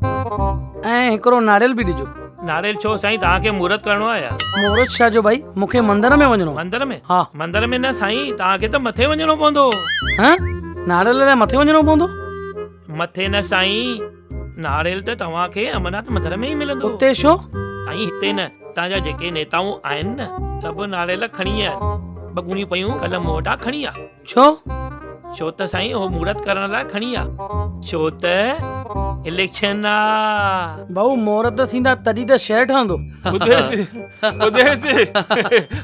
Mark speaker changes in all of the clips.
Speaker 1: ۽ هڪڙو ناريل به ڏجو. ناريل ڇو سائين توهان
Speaker 2: کي مورت ڪرڻو آهي ڇا؟ مورت ڇا جو ڀائي
Speaker 1: مون کي مندر ۾ وڃڻو آهي. مندر ۾؟ ها. مندر
Speaker 2: ۾ نه
Speaker 1: سائين
Speaker 2: توهان کي ته مٿي وڃڻو پوندو. ها
Speaker 1: ناريل لاء مٿي وڃڻو پوندو؟ مٿي نه
Speaker 2: سائين ناريل ته توهان کي امرناٿ مندر ۾ ئي ملندو. اتي ڇو؟
Speaker 1: سائين هتي نه
Speaker 2: هتان جا جيڪي نيتائون آهن نه سڀ ناريل کڻي ويا آهن ٻه ڳوڻيون پيون ڪل مون وٽان کڻي ويا. ڇو؟
Speaker 1: ڇو ته
Speaker 2: سائين اهو مورت ڪرڻ لاء کڻي آ. ڇو ته اليڪشن آ. ڀائو مورت
Speaker 1: ٿيندا تڏهن ته شهر ٺهندو. اديس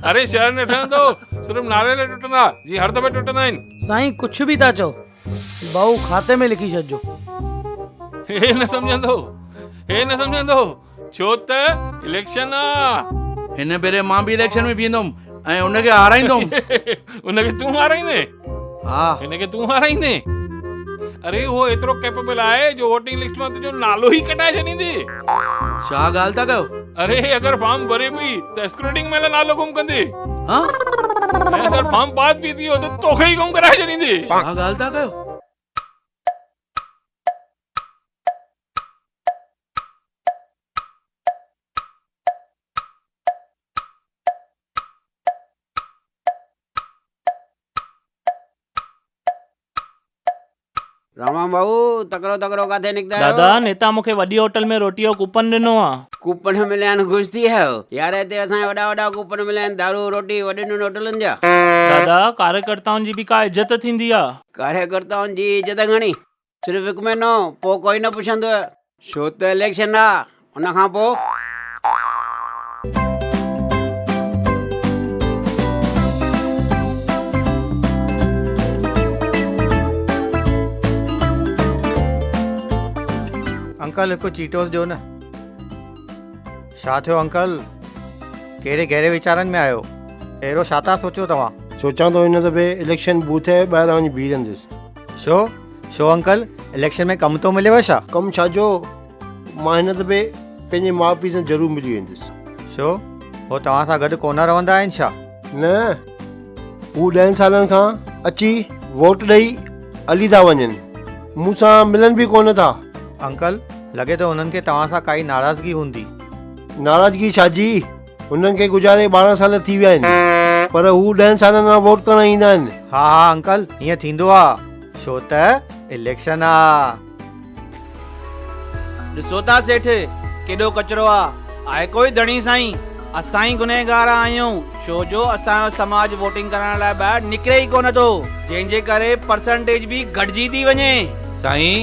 Speaker 3: اري شهر نه ٺهندو صرف ناريل ٽٽندا جيئن هر دفعي ٽٽندا آهن. سائين ڪڇ به ٿا چئو
Speaker 1: ڀائو کاتي ۾ لکي ڇڏجو. هي
Speaker 3: نه سمجهندو هي نه سمجهندو. ڇو ته اليڪشن آ. هن ڀيري مان به
Speaker 4: اليڪشن ۾ بيهندم ۽ ان کي هارائيندم. ان کي تون هارائيندين؟
Speaker 3: ها. هن
Speaker 4: کي تون هارائيندين؟
Speaker 3: اري اهو ايترو ڪيپبل آهي جو ووٽنگ لسٽ مان تنهنجو نالو ئي ڪٽائي ڇڏيندي. ڇا
Speaker 4: ڳالهه ٿا ڪيو؟ اري اگر فارم
Speaker 3: ڀري پي ته اسڪروٽنگ مهل نالو گم ڪندي. ها؟
Speaker 4: ۽ اگر
Speaker 3: فارم پاس به ٿيو ته توکي ئي گم ڪرائي ڇڏيندي. ڇا ڳالهه ٿا ڪيو؟
Speaker 5: راما ڀائو تڪڙو تڪڙو ڪاٿي نڪتا آهيو دادا نيتا مون کي وڏي
Speaker 2: هوٽل ۾ روٽيء جو ڪوپن ڏنو آ. ڪوپن مليا آهن خوش
Speaker 5: ٿي ويا آهيو. يار هتي اسان کي وڏا وڏا ڪوپن مليا آهن دارو روٽي وڏين وڏين هوٽلن جا. دادا
Speaker 2: ڪاريڪرتائن جي به ڪا عزت ٿيندي آ. ڪاريڪرتائن جي
Speaker 5: عزت گهڻي. صرف هڪ مهينو پوء ڪوئي نه پڇندو. ڇو ته اليڪشن آ ان کان پوء.
Speaker 6: انڪل هڪ چيٽوس ڏيو نه. ڇا ٿيو انڪل ڪهڙي گهري ويچارن ۾ آهيو اهڙو ڇا ٿا سوچيو توهان. سوچان ٿو هن دفعي
Speaker 7: اليڪشن بوٿ جي ٻاهران وڃي بيهي رهندس. شو شو انڪل
Speaker 6: اليڪشن ۾ ڪم ٿو مليو ڇا؟ ڪم ڇا جو
Speaker 7: مان هن دفعي پنهنجي ماء پيء سان ضرور ملي ويندس. شو هو
Speaker 6: توهان سان گڏ ڪونه رهندا آهن ڇا؟ نه
Speaker 7: هو ڏهن سالن کان اچي ووٽ ڏئي هلي ٿا وڃن مون سان ملن به ڪونه ٿا. انڪل
Speaker 6: لڳي ٿو هنن کي توهان سان ڪائي ناراضگي هوندي. ناراضگي
Speaker 7: ڇا جي. هنن کي گذاري ٻارهن سال ٿي ويا آهن پر هو ڏهن سالن کان ووٽ ڪرڻ ايندا آهن. ها ها انڪل
Speaker 6: ائين ٿيندو آ ڇو ته اليڪشن آ.
Speaker 8: ڏسو ٿا سيٺ ڪيڏو ڪچرو آ. آء ڪوئي ڌڻي سائين اسان ئي گنهگار آهيون ڇو جو اسان جو سماج ووٽنگ ڪرائڻ لاء ٻاهر نڪري ئي ڪونه ٿو جنهن جي ڪري پرسنٽيج به گهٽجي ٿي وڃي. سائين.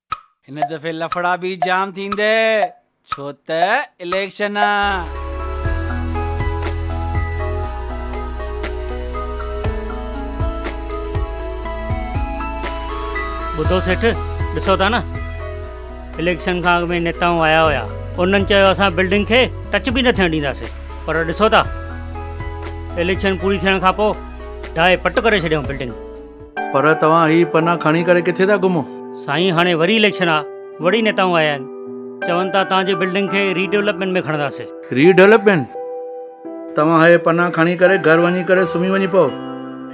Speaker 8: هن دفعي لڦڙا به جام ٿيندي ڇو ته اليڪشن آ.
Speaker 9: ٻڌو سيٺ ڏسو ٿا نه اليڪشن کان اڳ ۾ نيتائون آيا هيا انهن چيو اسان بلڊنگ کي ٽچ به نه ٿيڻ ڏينداسين پر ڏسو ٿا اليڪشن پوري ٿيڻ کان پوء ڊاهي پٽ ڪري ڇڏيائون بلڊنگ. پر توهان
Speaker 4: هي پنا کڻي ڪري ڪٿي ٿا گهمو؟ سائين هاڻي وري
Speaker 9: اليڪشن آ وڙي نيتائون آيا آهن چون ٿا توهان جي بلڊنگ کي ري ڊولپمينٽ ۾ کڻنداسي. ري ڊولپمينٽ؟
Speaker 4: توهان هي پنا کڻي ڪري گهر وڃي ڪري سمهي وڃي پئو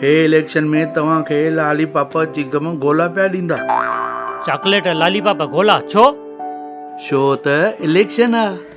Speaker 4: هي اليڪشن ۾ توهان کي لالي پاپ چيگم گولا پيا ڏيندا. چاڪليٽ
Speaker 9: لالي پاپ گولا ڇو؟ ڇو
Speaker 4: ته اليڪشن آ.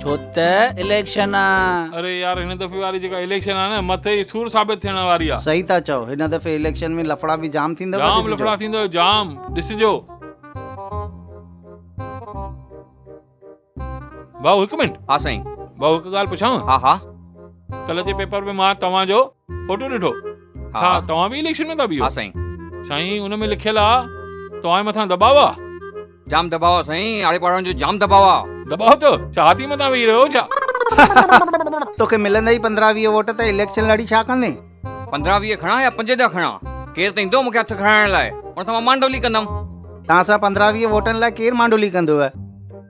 Speaker 8: ڇو ته اليڪشن آ. اري يار هن دفعي واري
Speaker 3: جيڪا اليڪشن آ نه مٿي ئي سور ثابت ٿيڻ واري آ. صحيح ٿا چئو هن دفعي
Speaker 8: اليڪشن ۾ لڦڙا به جام ٿيندو ڏسجو. جام لڦڙا ٿيندو
Speaker 3: جام ڏسجو. ڀائو هڪ منٽ. ها سائين. ڀائو هڪ
Speaker 10: ڳالهه
Speaker 3: پڇانو. ها ها. ڪلهه جي پيپر
Speaker 10: ۾
Speaker 3: مان توهان جو. فوٽو
Speaker 11: ڏٺو ها توهان
Speaker 10: به اليڪشن
Speaker 11: ۾ ٿا بيهو ها سائين
Speaker 10: سائين ان ۾
Speaker 11: لکيل آ توهان مٿان دباء آ جام دباء آ
Speaker 10: سائين آڙي پاڙن جو جام دباء آ دباء تو چاهتي
Speaker 11: مٿان ويهي رهيو ڇا
Speaker 6: توکي ملندا ئي 15 20 ووٽ ته اليڪشن لڙي ڇا ڪندين 15 20 کڻا
Speaker 10: يا 5 جا کڻا ڪير ته ايندو مونکي هٿ کڻائڻ لاء ان سان مان مانڊولي ڪندم توهان سان 15 20
Speaker 6: ووٽن لاء ڪير مانڊولي ڪندو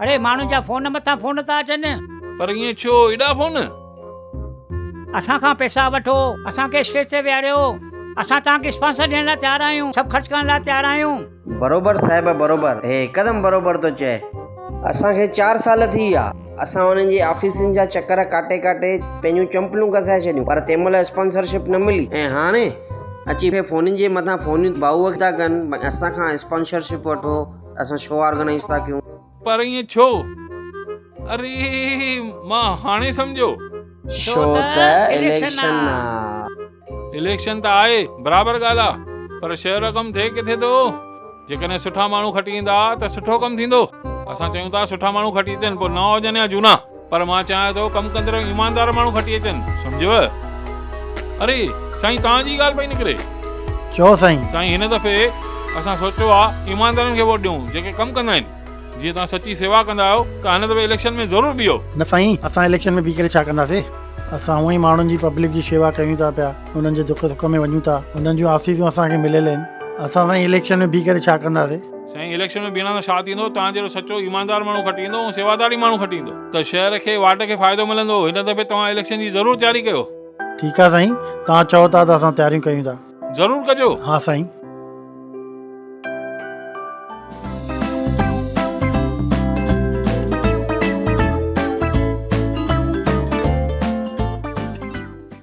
Speaker 11: اڙي
Speaker 9: ماڻهن جا فون مٿان فون ٿا اچن. پر ائين ڇو
Speaker 11: ايڏا فون.
Speaker 9: اسان کان پئسا وٺو اسان کي اسٽيج تي ويهاريو اسان توهان کي اسپانسر ڏيڻ لاء تيار آهيون سڀ خرچ ڪرڻ لاء تيار آهيون. بروبر صاحب
Speaker 5: بروبر هي هڪدم بروبر ٿو چئي. اسان کي چار سال ٿي ويا اسان انهن جي آفيسن جا چڪر ڪاٽي ڪاٽي پنهنجون چمپلون گسائي ڇڏيون پر تنهن مهل اسپانسر شپ نه ملي ۽ هاڻي اچي فونن جي مٿان فونيون ڀائو ٿا ڪن اسان کان اسپانسر شپ وٺو. اسان شو آرگنائيز ٿا ڪيون. پر ائين ڇو؟
Speaker 11: اري مان هاڻي سمجهيو. شو
Speaker 5: ته اليڪشن آ. اليڪشن ته آهي
Speaker 11: برابر ڳالهه آ پر شهر جو ڪم ٿئي ڪٿي ٿو. جيڪڏهن سٺا ماڻهو کٽي ايندا ته سٺو ڪم ٿيندو. اسان چيون ٿا سٺا ماڻهو کٽي اچن پوء نئا هجن يا جهونا. پر مان چاهيان ٿو ڪم ڪندڙ ۽ ايماندار ماڻهو کٽي اچن سمجهيو. اري سائين توهان جي ئي ڳالهه پئي نڪري. چئو سائين.
Speaker 6: سائين هن دفعي
Speaker 11: اسان سوچيو آ ايماندارن کي ووٽ ڏيون جيڪي ڪم ڪندا آهن. جي توهان سچي سيوا ڪندا آهيو ته هن دفعي اليڪشن ۾ ضرور بيهو. نه سائين اسان اليڪشن
Speaker 12: ۾ بيهي ڪري ڇا ڪنداسين اسان هونئن ئي ماڻهن جي پبلڪ جي شيوا ڪيون ٿا پيا انهن جي دک سک ۾ وڃون ٿا انهن جون آسيسون اسان کي مليل آهن اسان سائين اليڪشن ۾ بيهي ڪري ڇا ڪنداسين. سائين اليڪشن ۾ بيهڻ
Speaker 11: سان ڇا ٿيندو توهان جهڙو سچو ايماندار ماڻهو کٽي ايندو ۽ سيواداري ماڻهو کٽي ايندو ته شهر کي واٽ کي فائدو ملندو هن دفعي توهان اليڪشن جي ضرور تياري ڪيو.
Speaker 12: ٺيڪ آ سائين توهان چئو ٿا ته اسان
Speaker 11: تياريون
Speaker 12: ڪيون ٿا.
Speaker 11: ضرور
Speaker 12: ڪجو. ها سائين.